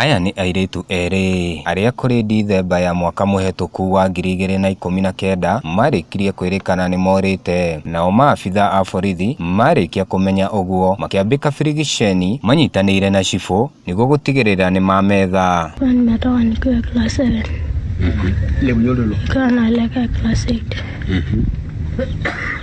Aya nĩ airĩtu erĩ arĩa kũrĩ Dithemba ya mwaka mũhetũku wa ngiri igĩrĩ na ikũmi na kenda marĩkirie kwĩrĩkana nĩmorĩte, nao maabithaa a borithi marĩkia kũmenya ũguo makĩambĩka birigiceni manyitanĩire na cibũ nĩguo gũtigĩrĩra nĩmametha. Huwa nimetoka nikiwa class 7. Nikawa naelekea class 8.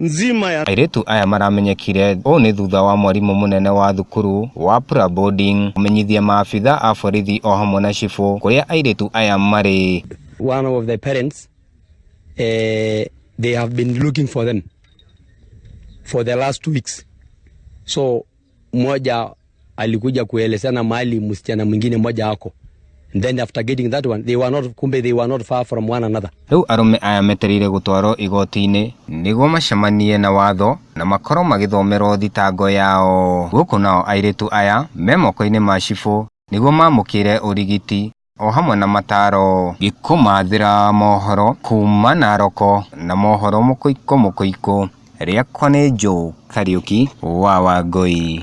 nzima ya Airĩtu aya maramenyekire ũũ nĩ thutha wa mwarimũ mũnene wa thukuru wa Pura Boarding kũmenyithia maabitha a borithi o hamwe na cibũ kũrĩa airĩtu aya marĩ. one of the parents, uh, they have been looking for them for the last two weeks. So mmoja alikuja kuelezana mahali msichana mwingine mmoja ako then after getting that one they were not kumbe they were not far from one another Rĩu arũme aya metereire gũtwarwo igoti-inĩ nĩguo macemanie na watho na makorwo magĩthomerwo thitango yao. Gũkũ nao airĩtu aya me moko-inĩ ma cibũ nĩguo mamũkĩre ũrigiti. o hamwe na mataro ngĩkũmathĩra mohoro kuma naroko na mohoro mũkũikũ mũkũikũ rĩakwa nĩ Joe Kariuki wa Wangũi.